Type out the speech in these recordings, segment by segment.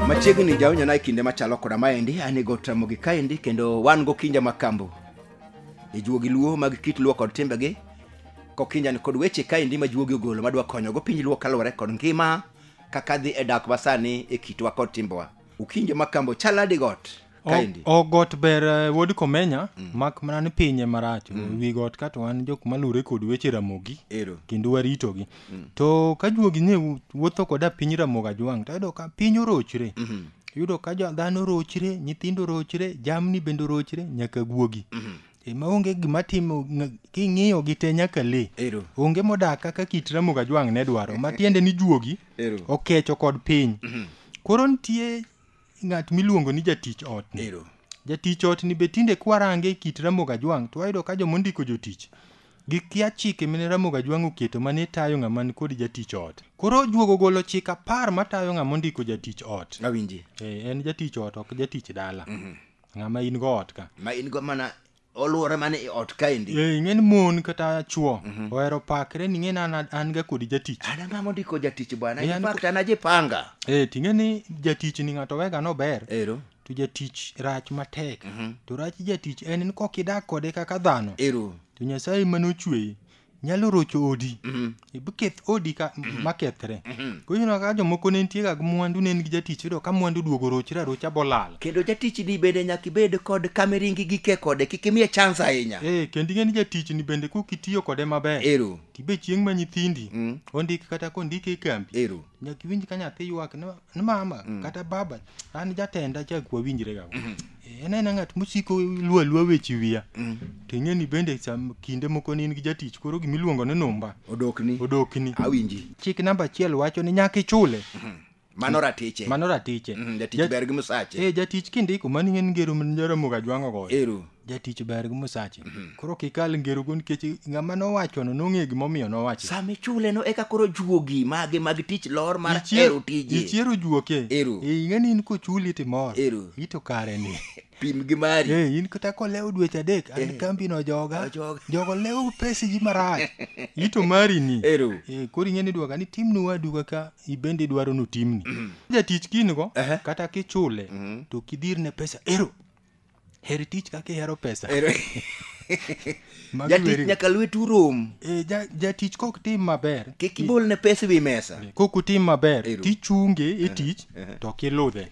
machiegni jaonyona e kinde machalo koda maendi an e got ramogi kaendi kendo wan gokinja mag kambo e juogi luo mag kit luo kod timbegi kokinjani kod weche kaendi ma juogi ogolo madwa konyogo piny luo kaluwore kod ngima kaka dhi e dak masani e kitwa kod timbewa ukinje makambo chal nade got O- kaendi o got ber eh, wuod komenya mak mana ni pinye marach wi got ka to wan jok malure kod weche ramogi ero kendo waritogi to ka juogi ne wu- wuotho koda piny ramogi ajwang' to yudo ka piny orochre yudo ka jo- dhano rochre nyithindo rochre jamni bende rochre nyaka guogi e ma onge gima timo ng- king'iyo gi te nyaka le ero onge modak kaka kit ramogi ajwang' ne dwaro matiende ni juogi Ero. okecho kod piny koro nitie ng'at miluongo ni jatich ot ni Ero. jatich ot ni be tinde kwarange e kit ramoga jwang' to wayudo ka joma ondiko jotich gikia chike mane ramoga jwang' oketo mane tayo ng'ama ni kod jatich ot koro juogo golo chik apar matayo ng'ama ondiko jatich ot Awinji. e, en jatich ot ok jatich dala ng'ama in go ot ka Ma in go mana oluore mana e ot kaendi Eh, ing'e ni mon kata chwo ohero pakre ni ing'e ni an, an ga kodi jatich an ang'a mondiko jatich bwana Eh, an- in fact an ajipanga eh, ting'e ni jatich ni ng'ato wega nober ero to jatich rach matek to rach jatich en ni kok idak kode kaka dhano ero to nyasaye mane ochweyi nyalo rocho odi Mhm. ibketh odi ka Mhm. makethre Mhm. koro ineno ka jomoko ne nitie ga gi mwandu ne en gi jatich iyudo ka mwandu duogo rochre arocha bolal kendo jatichni bende nyaka ibed kod kameringi gike kode kik imiye chance ahinya ee kendo ing'e ni jatichni bende kok itiyo kode maber ero tibe chieng' ma nyithindi Mm. ondik kata kondik e kambi ero nyaka iwinj ka nyathi ywak ni ni mama mm. kata baba an jatenda cha kwa winjre ga mm. e, en en ngat musiko luo luo weche wiya mm. to ing'e ni bende sam kinde moko ni in gi jatich koro gimi luongo ni numba odokni odokni awinji chik namba achiel wacho ni nyaka ichule mm -hmm. mano ratiche mano ratiche mm, jatich ber gi musache eh jatich kindiko mani ng'en ngero mjaramoga jwang'o goyo ero jatich ber gi musache koro kikal ngerogo nikech ng'ama nowachono nong'e gimomiyo nowacho sama ichuleno eka koro juogi mage mag tich lor mar hero tije ichiero juoke Ero. Eh, ing'e ni in kochuli timor Ero. ito kare ni pim gi mari Eh, in kata kolewo dweche adek an kambi no joga Ojoga. jogo lewo pesiji marach ito mari ni Ero. Eh, koro ing'e ni dwaka ni timni wadu kaka ibende idwaro notimni jatich kingo Ehe. kata kichule to kidirne pesa ero Her tich kaka ihero pesa. Ero- Magi jatich weri- nyaka lwetu rom Eh, ja- jatich kok tim maber kik ibol ne pesa ewi mesa kok utim maber Ero. tichunge e tich to ok iludhe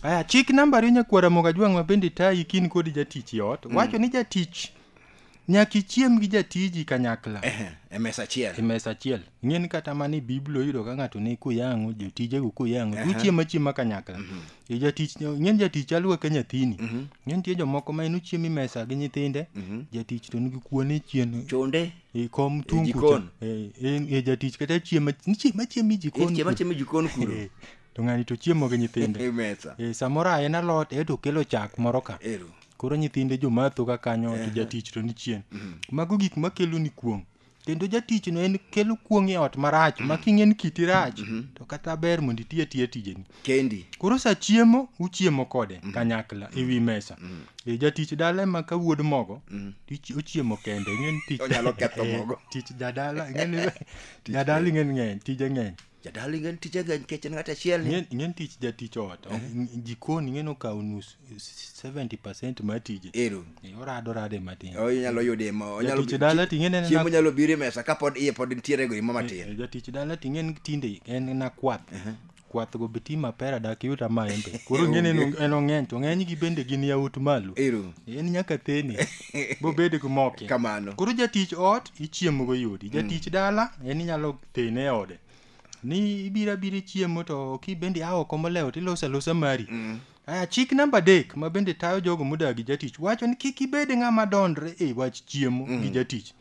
aya chik nambari nyakwara moga jwang' ma bende tayi kin kod jatich i ot wacho ni jatich nyaka ichiem gi jatiji kanyakla Ehe, e mesa achiel e mesa achiel ng'eni kata mana e biblia oyudo ka ng'ato ni kuyang'o jotijego kuyang'o uchiemo achiema kanyakla E jatich ng'eni jatich aluwa ka nyathini ng'eni nitie jomoko ma en ochiemo e mesa gi nyithinde jatich to nigi kuone chien chonde e kom tung kucha jikon. e e- e jatich kata chiemo chiemo achiema e jikon chiema kucha. chiema e jikon kuro Eh, to ng'ani to chiemo gi nyithinde e mesa e samoro a en alot e to okelo chak moro ka ero koro nyithinde jomatho ka kanyo to jatich to ni chien mago gik makelo ni kuong' kendo jatichno en kelo kuong' e ot marach ma king'e ni kiti rach to kata ber mondo iti atiya tijeni kendi koro sa chiemo uchiemo kode kanyakla e wi mesa e jatich dala ema ka wuod mogo to ichi- ochiemo kende ing'e ni tich Onyalo ketho Eh, mogo. tich jadala ing'e ni jadala ing'e ni ng'eny tije ng'eny jadala ingen tije ng'eny nikech en ng'at achiel ni Ng'en- ng'en tich jatich ot Ng- jikoni ng'en okawo nus 70 percent mar tije ero Eh, orado rade matin o inyalo yude ma onyalo Jatich dala to ing'e en chiemo na- nyalo biro e mesa kapod iye pod nitiere go imo Eh, matin jatich dala to ing'en tinde en na kwath kwath go beti mapera dak yud amaembe koro ng'en en- en ong'eny to ng'eny gi bende gin yawut malo ero en nyaka theni bobed gi moke kamano koro jatich ot ichiemogo yodi jatich dala en inyalo thine e ode ni ibiro abira chiemo to kibende a oko molewo to iloso alosa mari mm. aya chik namba adek ma bende tayo jogo modagi jatich wacho ni kik ibed ng'ama dondre e wach chiemo mm. gi jatich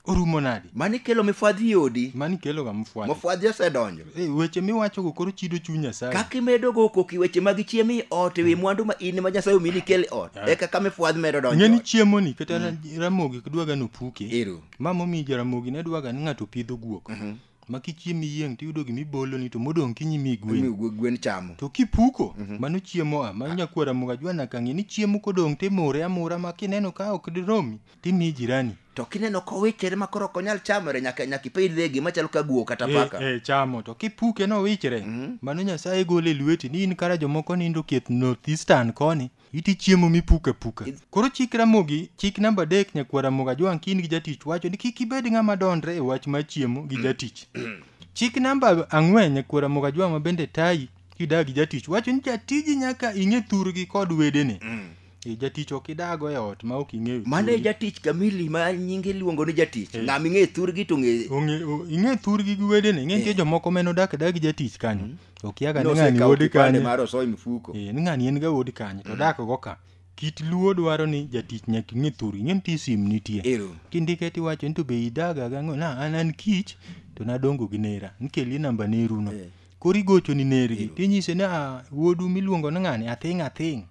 orumo nadi mani kelo mifwadhi odi mani kelo ga mifwadhi mifwadhi osedonjo e, weche miwacho go koro chido chuny nyasaye kaka imedo go koki weche mag chiemo i ot ewi mm. mwandu ma in ma nyasaye omini kel ot yeah. e kaka mifwadhi medo donjo ng'eni chiemo ni kata mm. ramogi kidwaga nopuke ero ma momiyo jaramogi ne dwaga ni ng'ato pidho guok mhm. ma kichiemo iyieng' to iyudo gima iboloni to modong' kinyi mi gwen gwen chamo to kipuko mhm. mano chiemo a mano nyakuo ramoga jwana kang'e ni chiemo kodong' to imure amura ma kineno ka ok diromi to imiyi jirani to kineno kowichere ma koro ok onyal chamore nyaka nyaka ipidh dhegi machalo ka guo kata eh, paka e, e, chamo to kipuke nowichere mm -hmm. mano nyasaye gole lweti ni in kara jomoko nindo kieth northeastern koni Iti chiemo mipuko apuka. Koro chik Ramogi, chik namba adek nyakwar Ramogi Ajwang' Kin gi jatich wacho ni kik ibed ng'ama dondre e wach mar chiemo gi jatich. Chik namba ang'wen nyakwar Ramogi Ajwang' ma bende tayi kidag gi jatich wacho ni jatiji nyaka ing'e thurgi kod wedene. E, jatich ok idago e ot ma ok ing'eyo Mano e thurgi. jatich kamili ma nyinge iluongo ni jatich. Eh. Ng'ama ing'e thurgi to ng'e Ong'e- o- ing'e thurgi gi wedene ing'e nitie jomoko ma en odak adak gi jatich kanyo okia ka ni ng'ani Nosekawo wuod kipande kanye mar osoy mfuko. Eh, ni ng'ani en ga wuod kanye to dak go ka kit luo dwaro ni jatich nyaka ing'e thur ing'e nitie sim nitie Ero. kindike tiwacho ni to be idaga gang'o na an an kich to nadongo gi nera nikeli namba neruno Eh. koro igocho ni nergi tinyise ni "Ah, wuodu miluongo ni ng'ani athing' athing'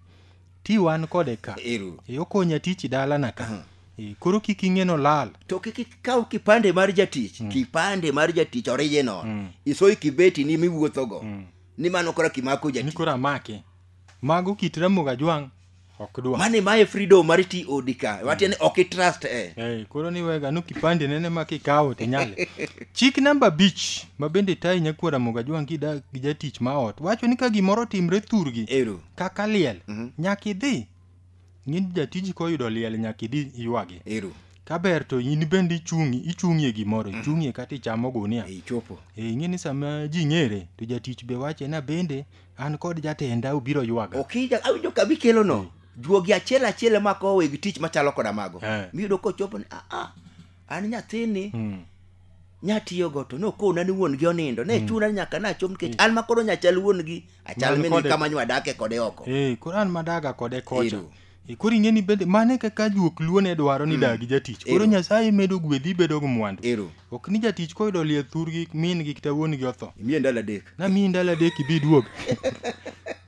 ti wan kode ka Ero. e okonya tich dalana ka e, koro kik ing'eno lal to kik ikaw kipande mar jatich kipande mar jatich original Mm. isoy kibeti ni miwuothogo Mm. ni mano kora kimako ni jatich koro amake mago kit ramogi ajwang' ok dwa mane mae freedom mar ti odi ka matiende ok itrust e Eh, koro ni wega no kipande nene ma kikawo to nyale chik namba abich ma bende tayi nyakwara moga jwang' gi da- gi jatich ma ot wacho ni ka gimoro timre thurgi ero kaka liel Mhm. nyaka idhi ng'in jatiji koyudo liel nyaka idhi ywagi ero kaber to in bende ichung'i ichung'ie gimoro ichung'ie kata ichamo gunia e ichopo e ing'e ni sama ji ng'ere to jatich be wache na bende an kod jatenda obiro ywaga okija awinjo ka bikelo no juogi achiel achiel ema ko weg tich machalo koda mago Eh. miyudo kochopo ni "Ah, ah, an nyathini Mm. nyatiyogo to nokona ni wuon gi onindo ne chuna ni nyaka nachop nikech an makoro nyachal wuon gi achal Man mini kode- kama nywadake kode oko Eh, koro an madaga kode kocha Ero. Eh, koro ing'eni bende mane kaka juok luo ne dwaro ni dagi jatich koro Ero. nyasaye medo gwedhi ibedo gi mwandu ero ok ni jatich koyudo lie thurgi min gi kata wuon gi otho imiye ndalo adek namiyi ndalo adek ibi duog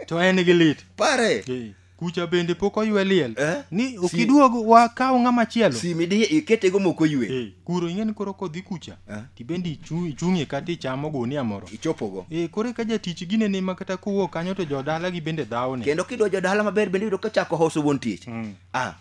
to en gi lit pare Eh, kucha bende pok oywe liel Eh? ni Si- okiduog wakaw ng'ama chielo simi di iketego moko ywe Eh, kuro ing'e ni koro kodhi kucha Eh. tibende ichu- ichung'e kata ichamo gunia moro ichopogo Eh, koro ka jatich gine ni ma kata kowuok kanyo to jodalagi bende dhawone kendo kidwa jodala maber bende yudo ka chako hoso wuon tich Mm. ah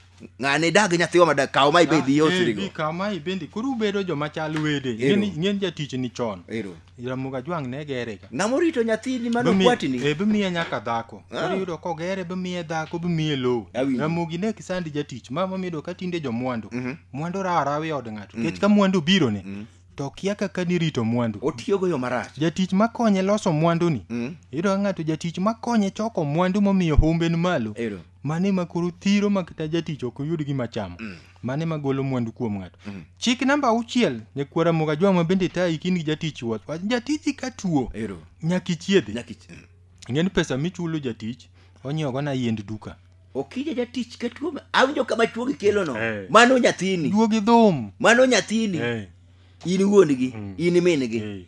ng'ane idag gi nyathiwa ma dak kaw ma ibed Ah, eh, yosrigo bi kaw ma ibendi koro ubedo joma chal wede Ero. Ing'eni- ing'eni jatich ni chon ero ramogi ajwang' ne gerega ng'ama orito nyathini mano Bimi- kwatini eh, bimiye nyaka dhako Ah. koro iyudo kogere bimiye dhako bimiye lowo Awinjo. ramogi ne kisandi jatich ma mamido ka tinde jomwandu Mhm. mwandu rawa rawa e od ng'ato nikech ka mwandu biro ne to kia kaka nirito mwandu otiyogo yo marach jatich makonye loso mwanduni Mm. iyudo ka ng'ato jatich makonye choko mwandu momiyo humbe ni malo Ero. mane ma koro thiro ma kata jatich ok oyud gima chamo mane ma golo mwandu kuom ng'ato chik namba auchiel nyakwara moga jwang'ma bende tayi kin gi jatich wuoth wach jatiji ka tuo Ero. nyaka ichiedhe Nyaka ich- mm. ng'en pesa michulo jatich onyiewogo na yiend duka Okija jatich ka tuo ma- awinjo kama chuo gikelono. Eh. Mano nyathini. duogi dhum Mano nyathini. Eh, In wuon-gi, in min-gi. eh.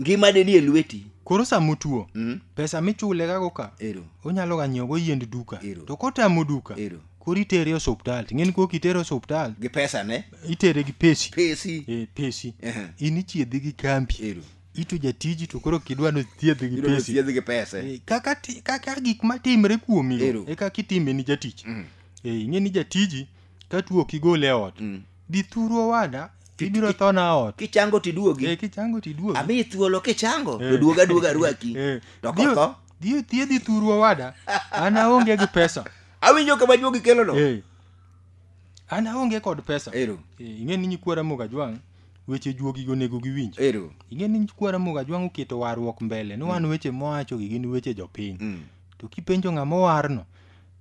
ngima de nie lweti koro sama otuo mm. pesa michule gago ka ero onyalo ga nyiewo go yiend duka ero. to kotamo duka ero koro itere osuptal ting'eni kok itere osuptal gi pesa ne itere gi pesi pesi e, pesi uh -huh. in ichiedhi gi kambi ero ito jatiji to koro kidwa no thiedhi gi pesi thiedhi gi pesa e, kaka kaka gik matimre kuomi e kaka itime ni jatich mm. e, ing'eni jatiji ka tuo ok igol e ot Mm. dhi thuru owada Ki- ibiro ki- thona ot kichango tiduogi Eh, kichango tiduogi ami thuolo kichango Eh. to duog aduoga arwaki Eh, to dhi- kotho dhi othiedhi thuru owada an aonge gi pesa awinjo kama juogi kelono Eh, an aonge kod pesa ero Eh, ing'e ni nyikwara moga jwang' weche juogi onego giwinj ero ing'e ni nyikwara moga jwang' oketo warruok mbele ni wan weche mowachogi gin weche jopiny Mm. to kipenjo ng'ama owarno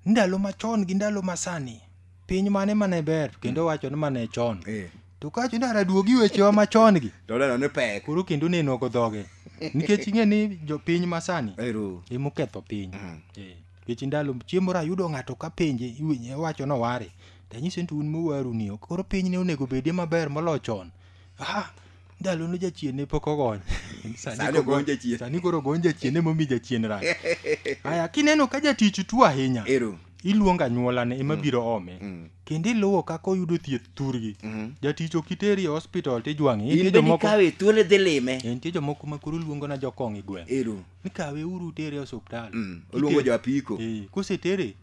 ndalo machon gi ndalo masani piny mane mane ber to kendo wacho ni mane chon Eh. to kacho ni araduogi wechewa machon gi To neno ni pek. koro kendo neno go dhoge nikech ing'e ni jopiny masani Ero. emoketho piny Mm. Eh, nikech ndalo chiemo rayudo ng'ato ka penje iwinje wacho noware tanyise ni to un mowaruni koro piny ne onego bedie maber moloyo chon Ah, ndalo ne jachien ne pok ogony Sani sani ogo- ogony jachien. sani koro ogony jachien emomi jachien rach aya kineno ka jatich tuo ahinya ero iluongo anyuolane ema biro ome Mm. kendo iluwo kaka oyudo thieth thurgi Mhm. jatich ok iteri e hospital tijwang'e in nitie bende jomoko ikawe thuolo idhi lime Eh, nitie jomoko ma koro luongo na jokong' e gweng' ero nikawe uru tere e osiptal Mm. oluongo Iter- jo apiko Eh, kosetere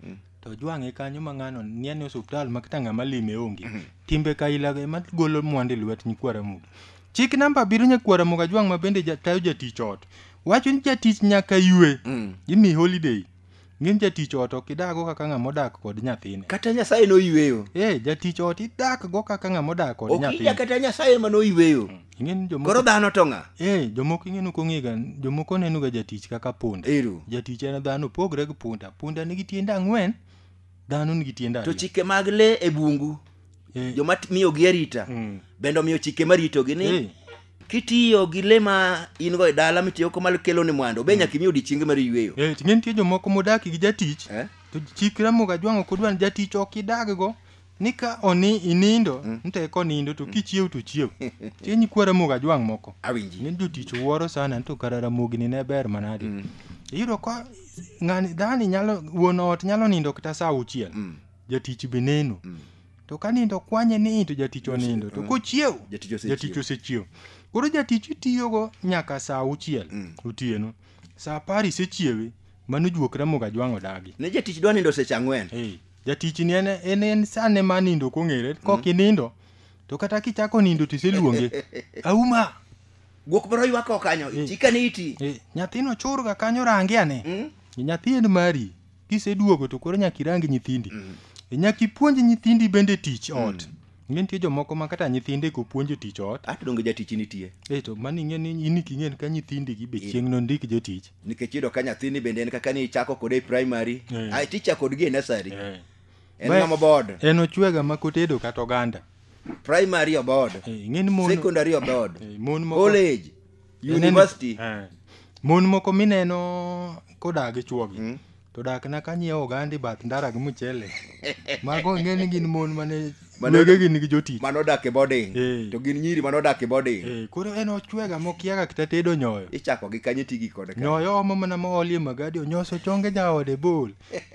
to ojwang'e kanyo ma ng'ano nie ni osuptal ma kata ng'ama lime onge timbe kaila ema golo mwandu e lwet nyikwara mugi chik namba abiriyo nyakwara muga jwang' ma bende ja- tayo jatich ot wacho ni jatich nyaka ywe gimi holiday ng'in jatich ot ok idago kaka ng'ama odak kod nyathine kata nyasaye noyweyo e jatich ot idakgo kaka ng'ama odak kod ok ija nyathine kata nyasaye ma noyweyo ing'e ni jomoko koro dhano to ng'a eh jomoko ing'e ni kong'ega jomoko neno ga jatich kaka punda Ero. jatich en dhano pogre gi punda punda nigi tiende ang'wen dhano nigi tiende to ariyo chike mag le e bungu Eh. joma t- miyogi arita Mm. bende omiyo chike maritogi ni Eh. kitiyo gi le ma in go e dala mitiyo koma kelo ni mwando be nyaka imi odiechienge mar yueyo Eh, ting'e nitie jomoko modaki gi jatich Eh? to chik ramoga jwang'o kodwan jatich ok idaggo ni ka oni inindo mm. nte ko nindo to mm. kichiew to chiew che nyikwa ramogi ajwang' moko awinji ni jotich wuoro sana to kara ramogi ni ne ber manadi mm. iyudo ka ng'ani dhani nyalo wuon ot nyalo nindo kata saa auchiel mm. jatich be neno mm. to ka nindo kwanye ni to jatich onindo to mm. kochiew jatich osechiew koro jatich itiyogo nyaka saa auchiel mm. otieno saa apar isechiewe mano juok ramogi ajwang' odagi ne jatich dwa nindo seche ang'wen hey. jatichni en en en sane ma nindo kong'ere kok inindo to kata kichako nindo to iseluonge auma Guok moro ywak oko kanyo. Eh. Chika ni iti. e, nyathino churga kanyo range ane Mm. nyathi en mari kiseduogo to koro nyaka irang nyithindi E, nyaka ipuonj nyithindi bende tich ot ing'e nitie jomoko ma kata nyithinde kopuonjo tich ot ato donge jatich nitie e to mani ing'e ni in king'en ka nyithindi gi be Eh. chieng' nondik jotich nikech iyudo ka nyathini bende en kaka ni ichako kode e primary Eh. ae ticha kodgi e nursery en Ba- ng'ama board en ochwega ma kotedo kata oganda primary oboard Eh, ing'e ni mon secondary oboard eh, mon moko college Ineno- university Eh. mon moko mineno koda gi chuogi Mm. to dak na kanyiewo ogandi bath ndara gi mchele mago ng'e ni gin mon mane Mane- wegegi nigi jotich mano dak e boarding Eh. to gin nyiri mano dak e boarding Eh, koro en ochwega mokiaga kata tedo nyoyo ichako gi kanye tigi kod ka nyoyo omo mana moolie magadi onyoso chonge jaode bol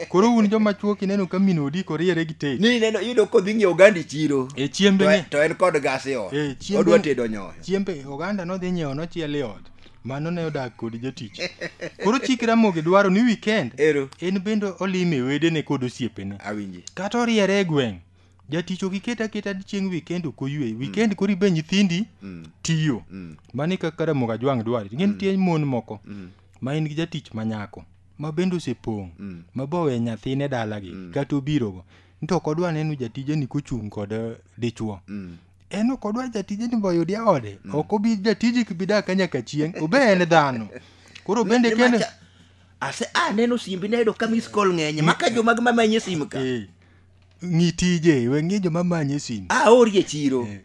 koro un joma chuo kineno ka min odi koriere gi tet ni neno iyudo kodhi ng'iewo ogandi chiro e chiembe to, ni to en kod gas e ot Eh, chiembe- odwa tedo nyoyo chiembe oganda nodhi nyiewo nochiel e ot mano ne odak kod jatich koro chik ramogi dwaro ni weekend ero en bende olime wedene kod osiepene awinji kata oriere e gweng' jatich ok iket aketa chieng' weekend ok oywe weekend koro ibe nyithindi Mm, tiyo mm, mano e kaka ramogi ajwang' dwaro ing'e nitie mon moko mm, ma en gi jatich ma nyako ma bende osepong' mm. ma bowe nyathine dalagi kata obirogo nto ok odwa neno jatijeni kochung' kod eh, dichwo Mm, en ok odwa jatije ni boyud ya ode ok obi jatiji kibidak ka nyaka chieng' obe en dhano koro bende Ni- ni kendo macha- ase aneno simbi nayudo ka miss call ng'enye maka jomag mamanye sim ka Eh, ng'i tije we ng'i joma manye simu aori e chiro Eh.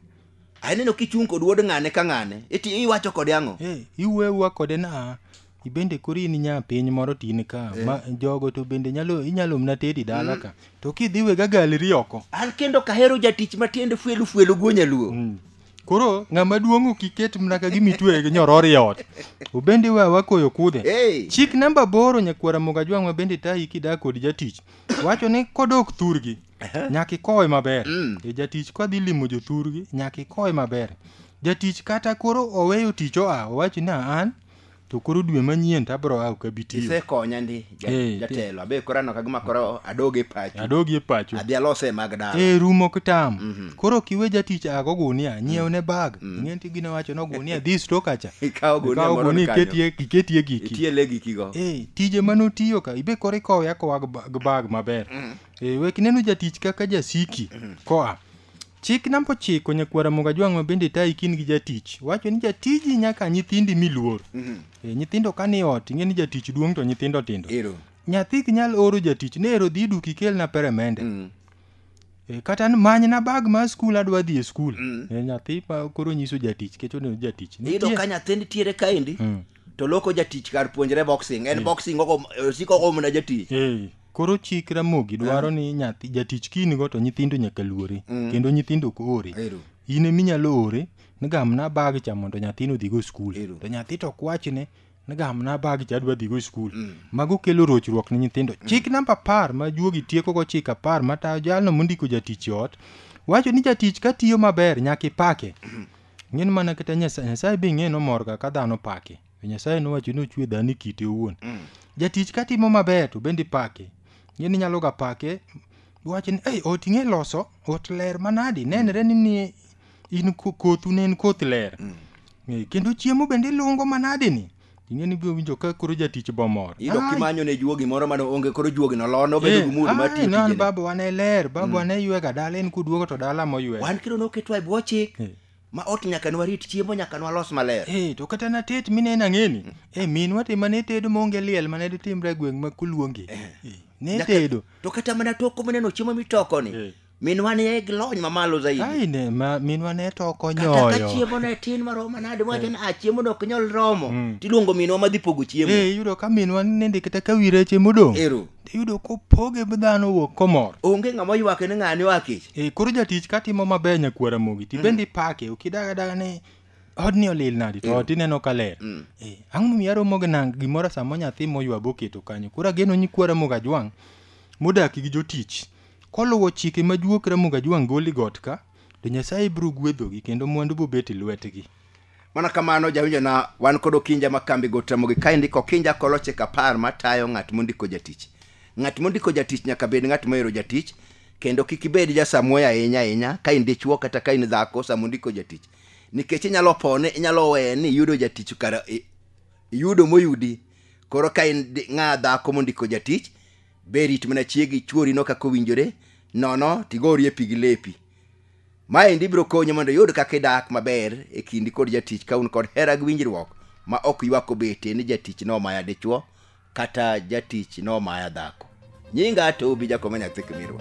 aneno kichung' kod wuod ng'ane ka ng'ane iti iwacho kode ang'o Eh, iwuewa kode na ibende koro in nya piny moro tin ka Eh. ma jogo to bende nyalo inyalo mna tedi dala ka to kidhi wega galeri oko an kendo kahero jatich matiende fuelu fuelu go nyaluo Mm. koro ng'ama duong' ok iket mna ka gimitwe gi nyoror e ot obende wa wakoyo kudhe Hey. chik namba boro nyakwara moga jwang' ma bende tayi kidak kod jatich wacho ni kodok thurgi nyaka ikowe maber Mm. e jatich kadhi limo jothurgi nyaka ikowe maber jatich kata koro oweyo tich oa owacho ni "Ah, an to koro dwe manyien to abro awo ka bitiyo isekonya ndi ja- Eh, jatelo abe koro aneno kagima koro adoge pacho adogi e pacho adhi alose mag dala e rumo kitam Mhm. koro kiwe jatich ago gunia nyiew ne bag ing'eni ti gine wacho no gunia dhi sto kacha ikawo gunia Ikawo moro gunia kanyo iketie iketie giki itie le gikigo Eh, tije mane otiyo ka ibe koro ikowe akowa gi ba- gi bag maber Eh, wek neno jatich kaka jasiki koa Chik namba ochiko nyakwara moga jwang' mabende tayi kin gi jatich wacho ni jatiji nyaka nyithindi miluor mm-hmm. e, eh, nyithindo ka ni ot ing'e ni jatich duong' to nyithindo tindo Ero. nyathi ok nyal oro jatich ne ero dhi duki kelna peremende mm. e, kata manyna bag mar skul adwa dhi e skul mm. e, nyathi ma koro nyiso jatich kech oneno jatich iyudo ka nyathi nitiere kaendi mm. to loko jatich kar puonjre boxing en mm. boxing osiko ogo mana jatich mm. Koro chik Ramogi dwaro ni nyathi jatich kinigo to nyithindo nyaka luore kendo nyithindo ok ore. Ero. In ema inyalo ore ni gamna bag cha mondo nyathino odhigo e skul. Ero. To nyathi to ok wachne ni gamna bag cha adwa dhigo e skul. Mago kelo rochruok ne nyithindo. Chik namba apar ma juogi tiekogo chik apar matayo jalno mondiko jatich e ot wacho ni jatich ka tiyo maber nyaka ipake. Ng'en mana kata Nyasaye, Nyasaye be ing'e ni omorga ka dhano pake. To Nyasaye nowacho ni ochwe dhano e kite owuon. Mm. Jatich ka timo maber to bende ipake. Ng'eni inyalo ga pake wach ni ei ot ing'e loso, ot ler manadi, nenre ni ni in ko- kothu ne en koth ler. Mm. Eh, Kendo chiemo bende ilungo manadi ni. Ing'eni ibiro winjo ka koro jatich bomor. Iyudo Ai, kimanyo ne juogi moro mane onge koro juogi no lono bedo eh, gi mood mar ai, tiyo no, an tijene. babawa ne ler, babawa ne ywega dala en kuduogo to dala moywega. Wan kiro noketo e bwo chik. Eh. ma ot nyaka nwarit chiemo nyaka nwalos maler Eh, to kata natet mine nang'eni e minwa te mane tedo maonge liel mane ditimre e gweng' ma kuluongi Eh, ne Nyaka- tedo to kata mana toko mineno chiemo mitokoni Eh. minwa ne gi lony mamalo zaidi ai ne ma minwa ne toko kata ka nyoyo chiemo ne tin maromo manade mwacho ni a chiemo dok nyal romo Mm. tiluongo minwa madhi pogo chiemo Eh, iyudo ka minwa nende kata ka wi reche modong' ero iyudo kopoge gi dhano wuok komor onge ng'ama oywake ni ng'ani oa kech e koro jatich katimo maber nyakuo ramogi ti bende ipake ok idaga daga ni odni olil nadi to ot ineno ka ler Eh, ang'o momiyo aromo gi nang gimoro sama nyathi moywa boketo kanyo koro ageno nyikwa ramogi ajwang' modak gi jotich koluwo chike ma juok ramogi ajwang' goli got ka to nyasaye biro gwedhogi kendo mwandu bobet e lwetgi mana kamano jawinjona wan kod okinja ma kambi go tamogi ka indiko okinja kolo chik apar matayo ng'at mondiko jatich ng'at mondiko jatich nyaka bed ng'at mohero jatich kendo kik ibed jasamuoyo ahinya ahinya ka in dichuo kata ka in dhako sama ondiko jatich nikech inyalo pone inyalo weye ni iyudo jatich kara i- iyudo moyudi koro ka in di- ng'a dhako mondiko jatich be rit mana chiegi chuorino kaka owinjore nono tigorie pi gi lepi Maendi biro konyi mondo iyud kaka idak maber e kindi kod jatich ka un kod hera gi winjruok ma ok ywak obete ni jatich nomaya dichwo kata jatich nomaya dhako. Nyinga to obi jakoma nyathi kimirwa.